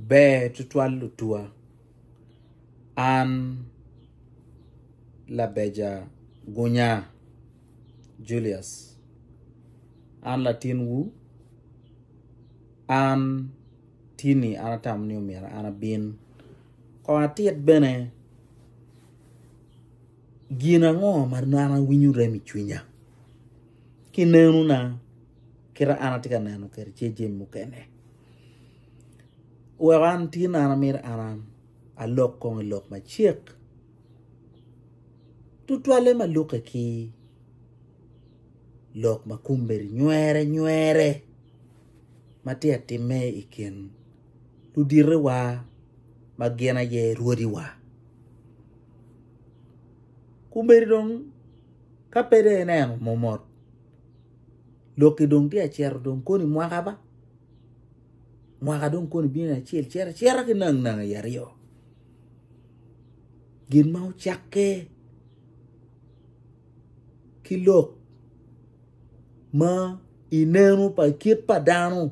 Ber tutwal lutuwa, an labeja gunya Julius, an latin wu, an tini an atamo ni omyero an abin kong atit bene. Gin ango ma nano winyo rem i cwinya? Ki nenona, kite an atye ka neno kede ce jemi mukene. Weko an tye nano mire an an alok kong i lok macek. Tutwalle ma luke ki lok ma kombeddi nywere nywere ma tye ka timme i kin. luditewa ma gin aye rwodiwa. Komedi dong ka pe dong ineno momot lokki dong tye ka cito dong koni mwaka ba mwaka dong koni bino acel cito acita ki nang nang i aryo gin ma ocakke ki lok ma ineno pa kit pa dano.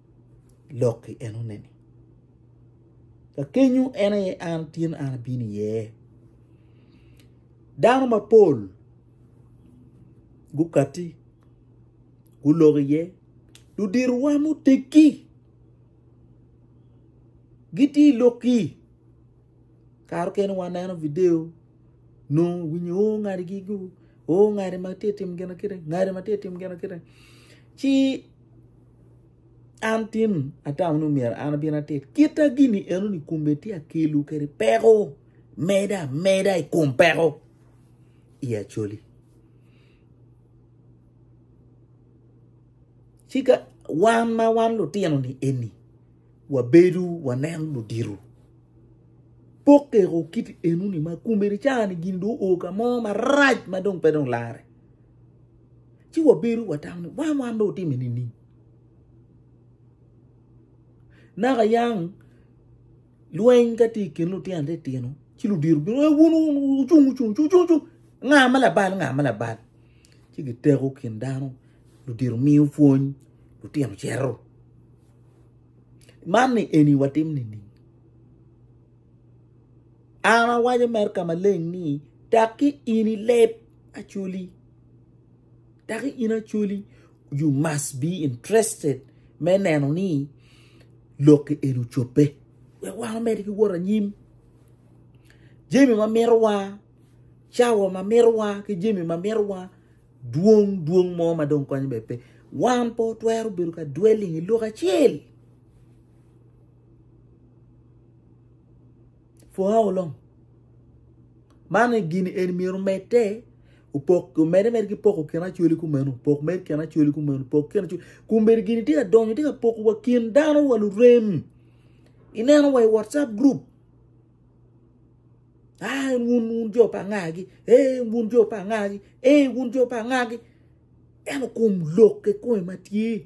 lok i enone-ni. Ka kenyo en aye an tyen an abino iye. Dano mapol gukati gulok iye ludirowa muteggi gitye i lokki kare mukene waneno video nongo winyo o ngadi gigo o ngadi ma tye ka timo gin kene ngadi ma tye ka timo gin kene ci An tin atamo ni myero an abin atit kita gini enoni kun bene tye ka kelo kwede peko meda meda i kom peko i Acholi. Ci ka wan ma wan lutinoni eni wabedo waneno ludito pok keko kit enoni ma kun bene caa-ni gin dong oo ka mo marac ma dong pe dong larre. ci wabedo watamo ni wan wan dong otime nining naka yang lweny ka tye i kin lutino titino ci ludiro bino e wun wucung wucung cung cung cung nga ma labal nga ma labal ci giteko kin dano ludiro miyo pwony lutino cito man ni eni watim nining An awaco mere ka maleng ni, Taki in i leb Acholi, taki in Acholi, you must be interested me neno ni lokki eni ocobbe. Wek wan omedi ki wot anyim. Jemi ma mitowa, cawa ma mitowa, ki jemi ma mitowa, dwong dwong mo ma dong konyo bebe pe. Wan pe otwero bedo ka dwelling i lok acel. For how long? Man gin eni myero omedde opok omedde mere ki poko kin acwali kumeno pok med kin acwali kumeno pok kin acwali kombeddi gini tye ka donyo tye ka poko wa kin dano wa lurem ineno wa i whatsapp group ah wun wun jo pa angagi eh wun jo pa angagi eh wun jo pa angagi eno kom lok kikome ma tye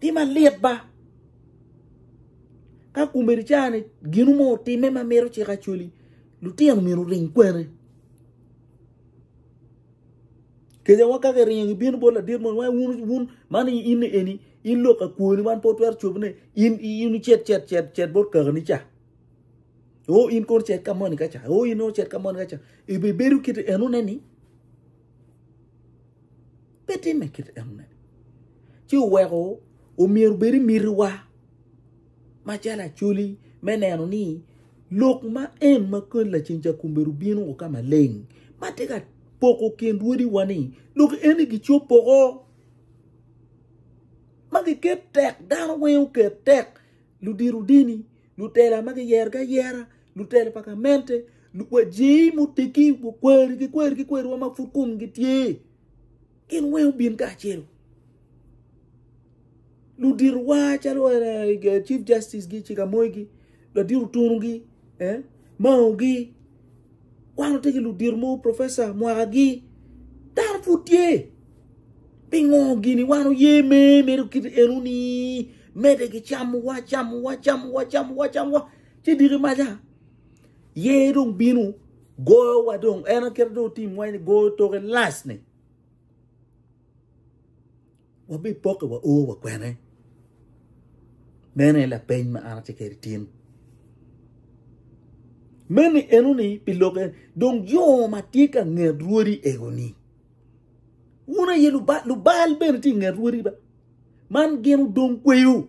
Ti malit ba ka kumeri cani ginu mo otime ma mito cik acoli lutino myero oring kwene. Kejawa ka giringo gibino bot ladit mo wai wun wun man in eni in lok ka kwoni wan po twero cobone in in cet cet cet cet bot kakani ca. O in kono cet ka moni ka ca. O in kono cet ka moni ka ca. Ibi bedo kiti enone ni Pe timme kit enoni, ci oweko omyero obed i mitiwa macalo Acholi me neno ni lok ma en ma koni lacen ca kombeddi bino woko ka maleng ma tye ka poko kin rwodiwa-ni lok eni gicop woko ma giket tek, dano weng oket tek, ludito dini, lutela ma kiyerogi ayera, lutela pa gamente, wa jei muteggi, wa kweri ki kweri ki kweriwa ma pud komgi tye. Gin weng obin kacelu. Ludito wa calo eh, Chief Justice gi, Chief Amoy gi, Ladiro Tunu gi, eh, Mao gi, wan ote ki ludito mo Professor Mwaka gi, dano pud tye. Pingo gini wan oye me medo kit enu ni mede gi camowa, camowa, camowa, camowa, camowa, ci diki maca. Yer dong bino goyowa dong en aye kite dong otim wa ni goyo toke last ni. Wabi poke wa o wa kwene. Mene la peny ma ana te keri tin. Mene eno ni piloke dong yo ma tye ka nget rwodi ego ni. Wuna ye lubal, lubal bene ti nget rwodi ba. Man gino dong kweyo.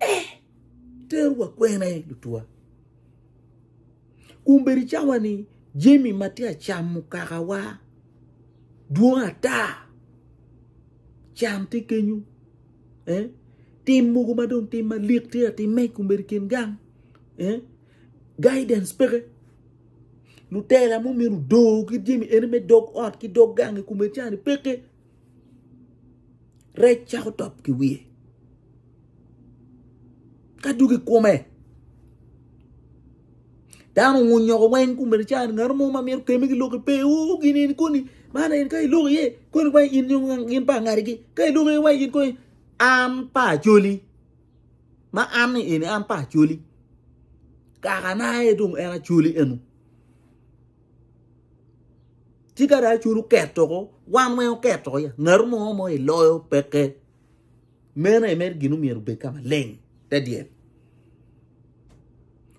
Eh! Teru wa kwene lutwa. Kun bedi cawa ni jami ma tye acamo kakawa dwong ata. Can tye kenyo. Eh? Tim mogo ma dong tim malik tye atimme kun bedi kin gang. Eh? Guidance peke. Lutela mo minu do ki jami eni me dog ot ki dog gangi kun bedi cani peke. rec cako top ki wiye ka duk i kome dano onyoko weng kumene ca ngat mo ma myero keme ki lok pe o gin eni koni man en ka iloko iye koni wai in yung gin pa ngadigi ka iloko iye wai in koni an pa acoli ma an ni eni an pa acoli kakana aye dong en acoli eno Ci ka dong culu ket oko, wan weng oket oko ya. Ngatu mo ma iloyo peke. Meno aye mere gin omyero obed ka maleng te dyel.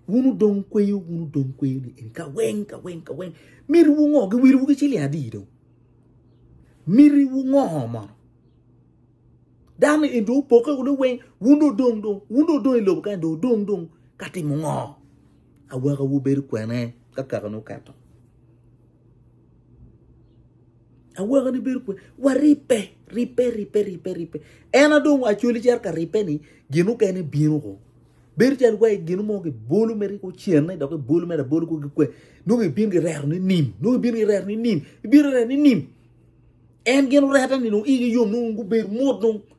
Wun odong kweyo, wun odong kweyo ni eni ka weng, ka weng, ka weng. Mitiwu ngo? Giwiliwu ki ciling adi dong? Mitiwu ngo mono? Dano eni dong opokke wunu weng, wun dong odong dong, wun dong odong i lobo kany dong odong dong ka timo ngo? Awaka wubedo kwene ka kakane oketo? Awaka ni bedo kwene? Waribbe, ribbe, ribbe, ribbe, ribbe. En adong acoli cero ka ribbe ni gin okene bino ko. Bedo calo wa gin mo ki bolo mere ki ocenne dok ki bolo mere abolo ko ki kwe. Nung ibin ki rero ni nim, nung ibin ki rero ni nim, ibin rero ni nim. En gin orete ni nung igi yom nung gubedo mut nung.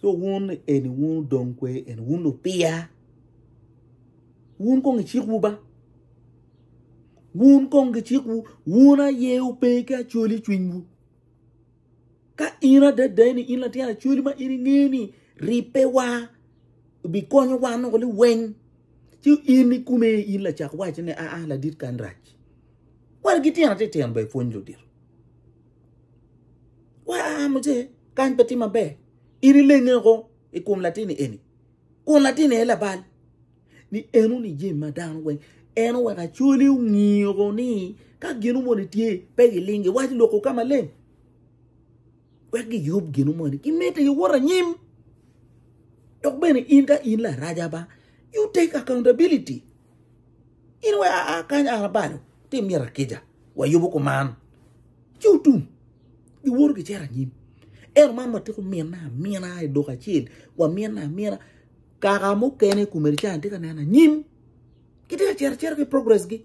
So wun eni wun odong kwe eni wun lupiya wun kong icikwu ba wun kong gicikwu wun aye ope ki acoli cwinywu ka in adada ni in latin acoli ma in inge ni ripewa bikonyo wa noko liweng ci in ikume in lacak waci ni aa ladit kan rac Wara ki tyena titino ber pwony ludito. Wa a muje kany pe tye maber. In ilenge oko i kom latini eni. Kun latini aye labal. Ni en uni jami ma dano weng. En oweko acoli ongiyo oko ni ka gino moni tye pe gilingi wac loko ka maleng. wek giyub gino moni, gimedde ki wot anyim. Dok bene in ka in laraja ba, you take accountability. In we aa kany an abalo, ti myero akica, wayubu kuman. Ci otum, giwoto gicito anyim. Ero man watiko minna amina i duka acel, waminna amina. Kaka mukene kumene can ti ka neno anyim, giti ka cito acita ki progress gi.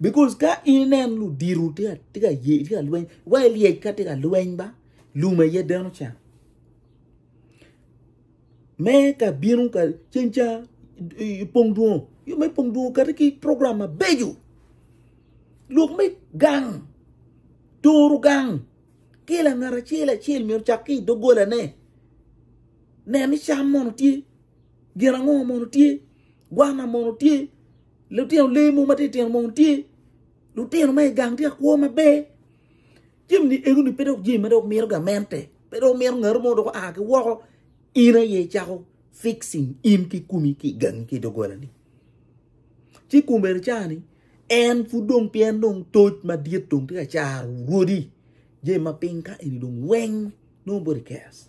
Because ka inen ludito tye ka ye tye ka lweny, wa ilyec ka tye ka lweny ba lum aye deno can. Me ka bino ka ceng ca pong dwongo, yo me pong dwongo kati ki program mabeco. Lok me gang, toro gang, ki langat acel acel myero ocak ki idogolane. Nen ni cam mono tye, gin ango mono tye, gwana mono tye. Lutino lewu ma titino mogo tye lutino ma i gang tye ka kwo maber. Jami ni ego ni pe dok jami ma dok mito gamente. Pe dok mito ngaro mo dok a ki woko in aye icako fixing in ki kumi ki gangi ki dogola ni. Ci kum bene cani en pud dong pien dong toc madit dong tye ka caro rwodi. Jami ma piny ka eni dong weng nongo body cares.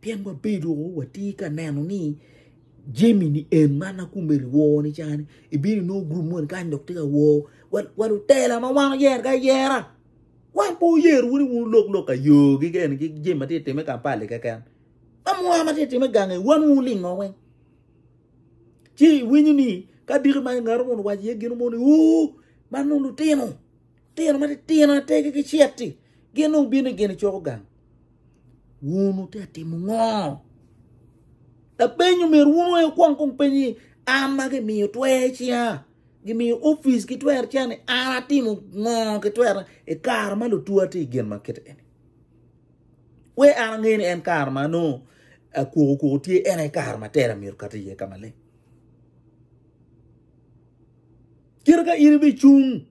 Pien wabedo watye ka neno ni jami ni en man ma kome wor ni ca ni ibino nongo gurup moni kany dok tye ka wor wa lutela ma wan oyero ki ayera wan pe wuyer wunu ni wun wulok lok ka yo ki kene ki jami ma tye ka timme i Kampala-li keken ma mwaka ma tye ka timme i gangi wan wun wulingo weng ci iwinyo ni ka diki ma ngat moni owaco iye gin moni oo man nongo lutino. Tino matitino ategi ki ceti gin dong wubino i gin icoko gang. Wun wutye ka timo ngo? Lapenyo myero wun weng wukwong kong penyo ni an ma gimiyo twer i cinga, gimiyo opic ki twer i cinga ni an atimo ngo ki twerna i kare ma lutwa tye i gin ma kit eni? Wek an ange ni en kare ma nongo akwoko kwoko tye en aye kare ma tera myero okat iye ka maleng. Kit ka in ibicung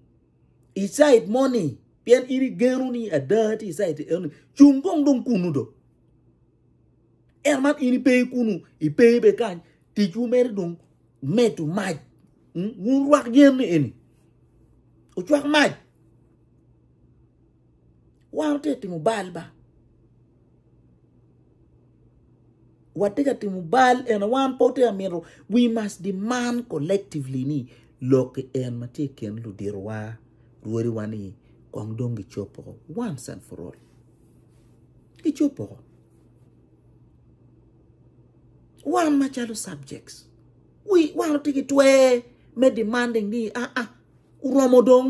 i cait mo ni pien in igeno ni ada tye i cait eno ni cung kong dong kunu do en man in ipe kunu ipe be kany ticwu mere dong medo mac wun rwak yen ni eni ocwak mac Wan watye ka timo bal ba. Watye ka timo bal ene wan pe watye ka mito we must demand collectively ni lokki en ma tye i kin luditowa, rwodiwa ni kong dong gicop woko once and for all. Gicop woko. Wan macalo subjects wan watye ki twer me demanding ni aa oromo dong.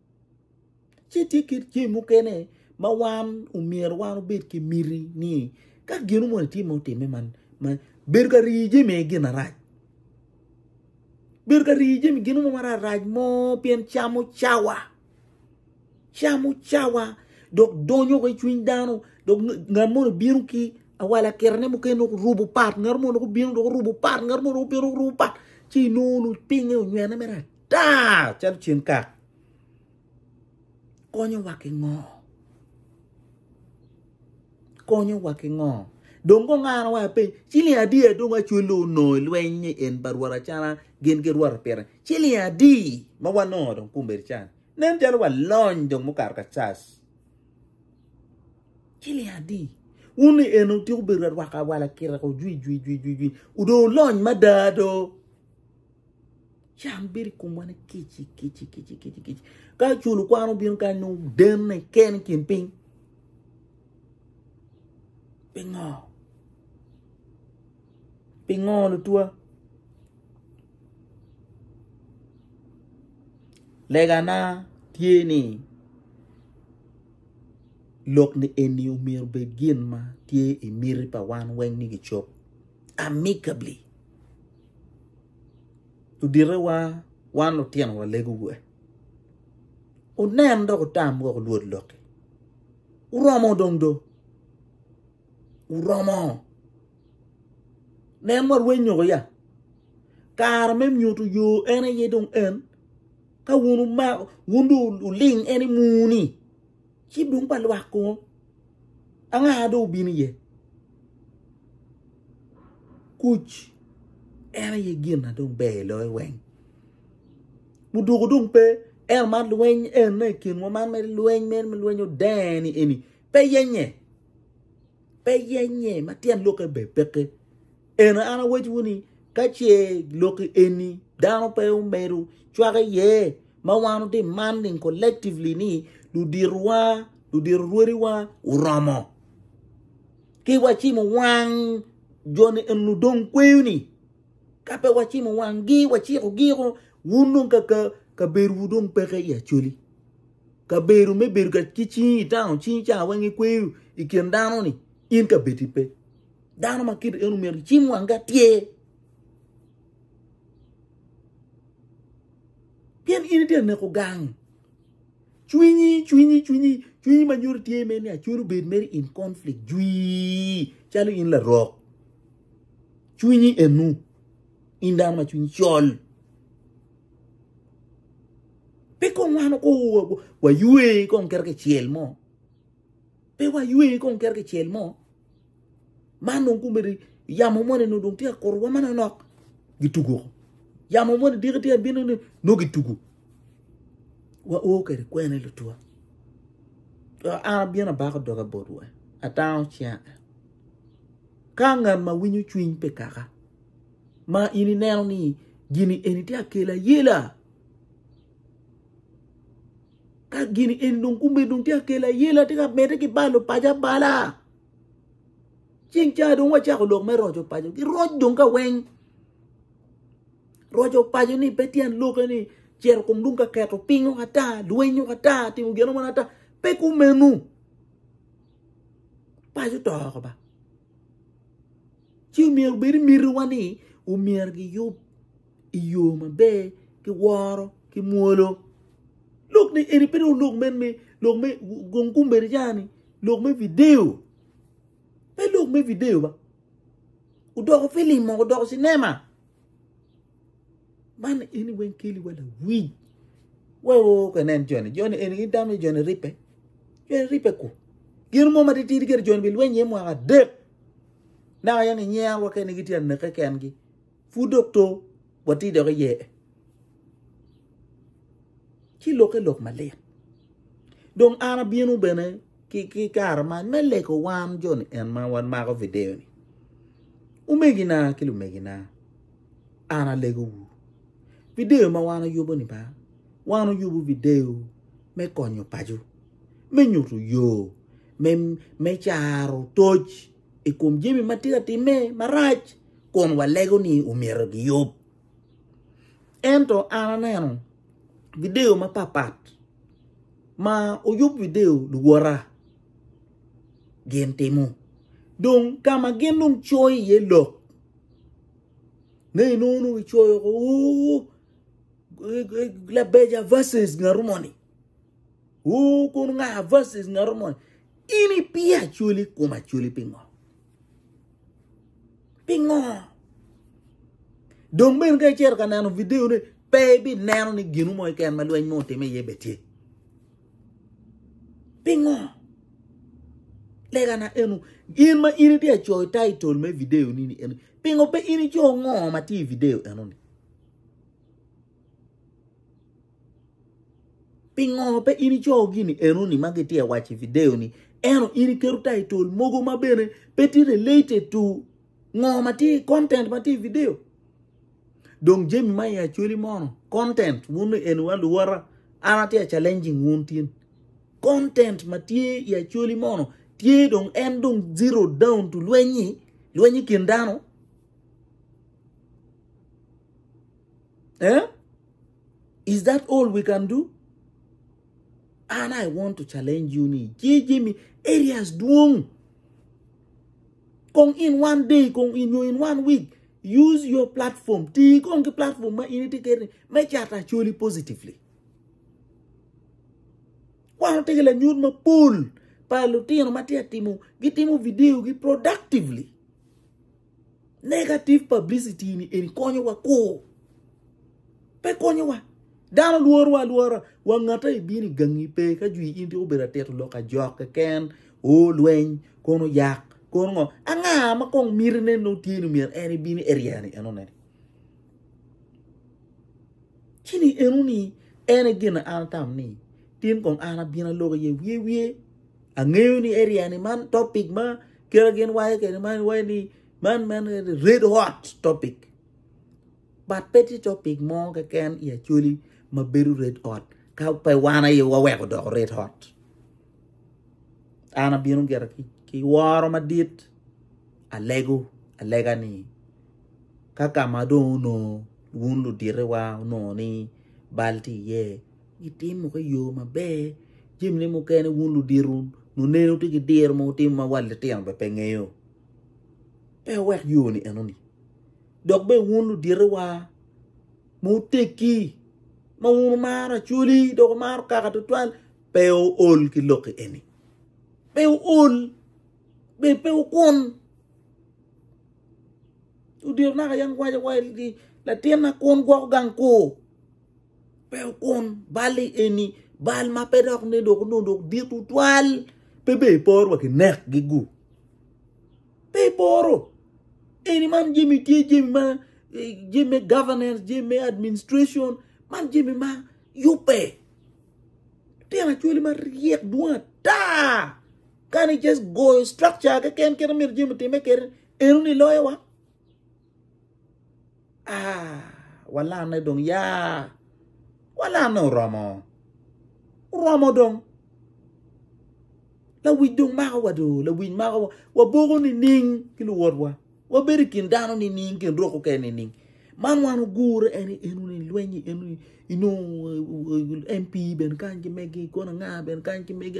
Ci tye kit jami mukene ma wan omyero wan obed ki miti ni ka gino moni tye ma otimme man bedo ka rii jami aye gin arac bedo ka rii jami gin mo ma rarac mo pien camo cawa camo cawa dok donyo wa ki i cwiny dano dok ngat moni obino ki awal akitane mukene dok orubo pat ngat moni dok obino dok orubo pat ngat moni dok obino dok orubo pat ci inongo pinye onywene me rac. Taa calo ceng kak. Konyowa ki ngo? Konyowa ki ngo? Dong gungano wa piny. Ciling adi adong acwelo onongo i lweny ni en ba rwot acana gin gi rwot pire. Ciling adi ma wanongo dong kumbedo can. Nen calo wa lony dong mukato ka cas. Ciling adi. Wun ni en otiko bedo rwaka awala kira ko jwi jwi jwi jwi jwi. Udong ulony mada do. Cam bedo i komwa ni kici kici kici kici kici. Ka culu kwan obino ka nyo denne ken i kin piny. Pingo? Pingo lutwa? Legana tye ni lok ni eni omyero bed gin ma tye i miti pa wan weng ni gicob amicably. luditewa wan lutino walego wa wunen dok wutam wek wulwod lokki wuromo dong do wuromo nen wa rweny nyoko ya kare me nyuto yo en aye dong en ka wun wumako wun dong wuling en i muni. Ci dong pa lwak kong anga dong obino iye? Kuc en aye gin na dong ber i loyo weng. Muduku dong pe en man lweny en na i kinwa man mere lweny mere me lweny odeni eni pe yenye. Pe yenye ma tyen lokke ber peke. Ento an awacciwu ni, ka ce lokki eni dano pe omedo cwak iye ma wan otiman ni collectively ni luditowa, ludito rwodiwa oromo ki wacimo wang joni eni ludong kweyo ni ka pe wacimo wanggi wacikogi o wun dong kaka kabedowu dong peke i Acholi. Kabedo me bedo ki cing i town cing ca weng ikweyo i kin dano ni in kabedi pe. Dano ma kite eno myero icim wangi atyer. Pien in itye ka neko gang. Cwinyi, cwinyi, cwinyi, cwinyi ma nyuto tye mere ni acwiny obed mere in conflict jwi calo in larok. Cwinyi enu in dano ma cwinyi col. Pe kong wano ko waywe kong kere kicel mo. Pe wa ywe kong kere ki cel mo. Man dong kumeri yamo moni no dong tika koro wa mano nok gitugo. Yamo moni diki tika bino ni no gitugo. Wa o kere kwene lutua. Ana bina bako doga bot wa. Atano chia. Ka ngan ma winyo chwiny pe kaka. Ma ini neno ni gini eni tia kela yela. Ka gin eni dong gubedo dong tye ka kelo ayela, tye ka medde ki balo paco abala. Ceng ca dong wacako lok me roco paco. Giroc dong ka weng. Roco paco ni pe tyen loke ni cero kom dong ka keto piny oko ata, lweny oko ata, timo gin oko ata. Pe kumenu. Paco to oko ba. Ci omyero obed mitiwa ni omyero giyub i yo maber ki woro ki mwolo. Lok ni eni pe dong lok men me lok me gong kumbedi ca ni lok me video. Pe lok me video ba. Odoko filim mo, odoko cinema. Man eni weng keli wa lawiny. Wa o ka nen joni, joni eni ki dam ni joni ripe. Joni ripe ku. Gin mo matitidi kere joni bi lweny ye mwaka dek. Naka yang inyero wa kene gitye aneke kengi. Pud dok to watye dok iye ci lokke lok malit. Dong an abino bene ki kare man me lego wan jo ni en ma wan mako video ni. Omegina ki lumegina an alego wu video ma wan ayubo ni ba wan oyubo video me konyo paco me nyuto yo me caro toc i kom jami ma tye ka timme marac kun walego ni omyero giyub. Ento an aneno video mapat pat ma oyub video luwota gin timo. Dong ka ma gin dong coyo iye lok ne inongo nongo gicoyo ko uu labeja versus ngatu moni uu kun nga versus ngatu moni in ipiyo acwali kom acwali pingo? Pingo? Dong bene ka icito ka neno video ne, pe ibi neno ni ginu mo iken ma lweny mo otime iye be tye. Pingo? Lega na enu, in ma in itye acoyo title me video ni ni enu, pingo pe in ico ngo ma tye i video enu ni? Pingo pe in icoyo gini enoni ma gitye waco i video ni eno in iketo title mogo ma bene pe tye related to ngo ma tye content ma tye i video. Dong jami ma i actually mono content wun ni eno wa luwara an atye challenging wun tin. Content ma tye i actually mono tye dong en dong zero down to lwenyi lwenyi kin dano. Eh? Is that all we can do? An I want to challenge you ni jeje mi areas dwong kong in one day kong in yo in one week use your platform ti kong ki platform ma in iti keri me cato acoli positively kwano tege lanyut mapol pa lutino ma tye timo gitimo video gi productively Negative publicity ni eni konyo wa koo. Pe konyo wa. Dano lworo wa lwora. Wa ngata i bini gangi pe ka jwi in tiko beda teto lok a jok keken. O lweny. Kono yak. Kono ngo. A nga ma kong miri ne no tiye ni mira en i bini area ni eno ne. Chini eno ni ene gina an tam ni tin kong an abina loko ye wiye wiye. Angeyo ni area ni man topic ma kira gin wayo kede man wayo ni man man red hot topic. But pe ti topic mo keken i acoli ma bedo red hot ka pe wan aye waweko doko red hot. An abino gira ki, ki woro madit alego alega ni ka kama dong onongo wun ludite wa onongo ni bal ti iye Gitimo ki yo maber jamine mukene wun ludito luneno tye ki diro ma wutimo ma wat litino bene pe ngeyo pe wuwek yo ni enoni dok bene wun ludito wa ma wutegi ma wun wumaro acholi dok wumaro kaka tutwal pe wuol ki loki eni pe wuol bene pe wukun ludito naka yam giwaco ni latinna kun gwoko gang kur. Pe wukun balli eni, bal ma pe dok ne dok onongo dok dit tutwal. Pe be iporo wa kinekgi gu. Pe iporo. Eni man jemi tye jemi ma eh, jemi me governance, jemi me administration, man jemi ma yubbe. Tena cwali ma ryek dwong ata. Kani just goyo structure keken kit amir jemi time kere, eno ni loyo wa. Ah, walanne dong ya. Walanne oromo. Oromo dong. Lawic dong mako wa do. Lawic mako wa. Waboko nining ki luwotwa. Wabedo i kin dano nining, kin rok keken nining. Man wan ogure en enu ni lwenyi enu inongo MP bene kany ki megi, kono anga bene kany ki megi.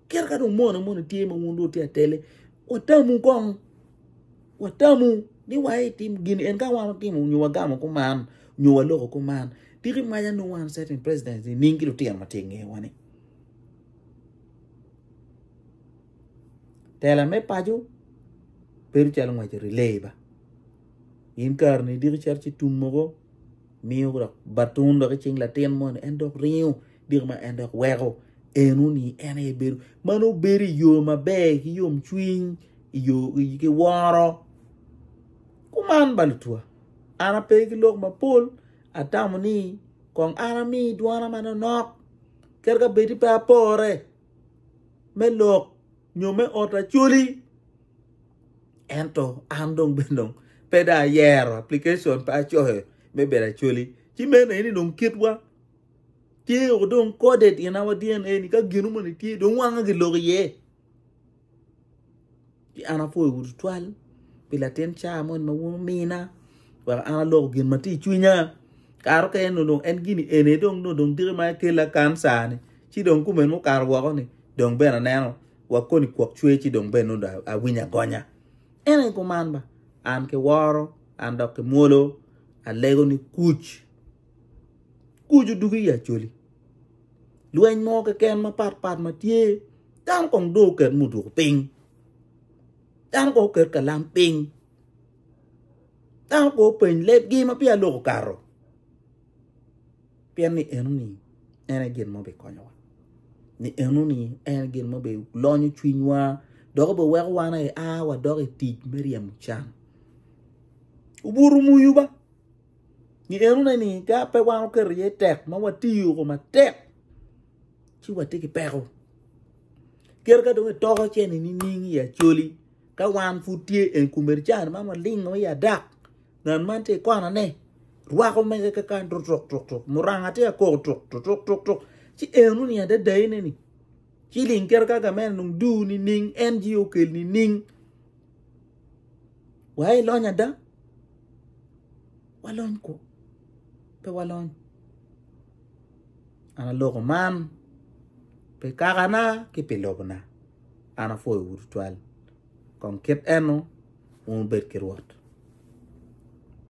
Kit ka dong moni moni tye ma wun dong tye atele, watamu kong. Watamu ni wa itim gin en ka wan otimo nyo wagamo kuman, nyo waloko kuman. Tiki maja nongo wan certain presidents ni ning ki lutino ma tye ingewa ni. Tela me paco bedo calo ngwec i relay ba. In kare ni idiko cito ci tum mogo miyo dok batun dok i cing latin moni en dok ringo. Diko ma en dok weko eno ni en aye bedo ma nongo bedo i yo maber ki yomcwiny i yo ki woro. Kuman ba lutwa, an ape ki lok mapol, atamo ni kong an ami dwona manonok kadi ka bed ni pe apore me lok nyo me ot Acholi. Ento an dong bene dong pe dong ayero application pe acoyo me bedo Acholi ci meno aye ni dong kitwa Tye woko dong kode dina wa dna ni ka gino moni tye dong wanga ki lok iye. Ki an apwoyo wu tutwal pi latin car moni ma wun mina wek an aloko gin ma tye i cwinya. Karo ka en dong en gini ene dong no dong diki ma kela kan sani ci dong kumen mukato woko ni dong ben aneno wa koni kwok cwe ci dong ben nudo awinya gonya. Ene kuman ba an ki woro an dok ki mwolo alego ni kuc. Kuc odwogo i Acholi. Lweny mo keken mapat pat ma tye, dano kong dong oket muduku piny. Dano kong oket kalam piny. Dano kong openy lebgi ma peya lok okato. Pien ni enoni en aye gin ma obikonyowa. Ni enoni en aye gin ma obilonyo cwinywa dok obiweko wan aye a wadok i tic me ryemo can. Obuto muyu ba. Ngi eno ne ni ka pe wan oketo iye tek ma watiyo ko matek ci watye ki peko. Kere ka dong itoko ce ni nining i acoli ka wan pud tye en kumeri can man walingo i adak ngat man tye ikona ne rwako mege ka kan tuk tuk tuk tuk muranga tye ka koko tuk tuk tuk tuk ci eno ni adada ine ni Ci ling kit ka gamene nung duu nining en ci okel nining? Wa ilony ada? Walony kwo? Pe walony. An aloko man pi kakana ki pi lobona. An apwoyowu tutwal. Kong kit eno wun wubed ki Rwot.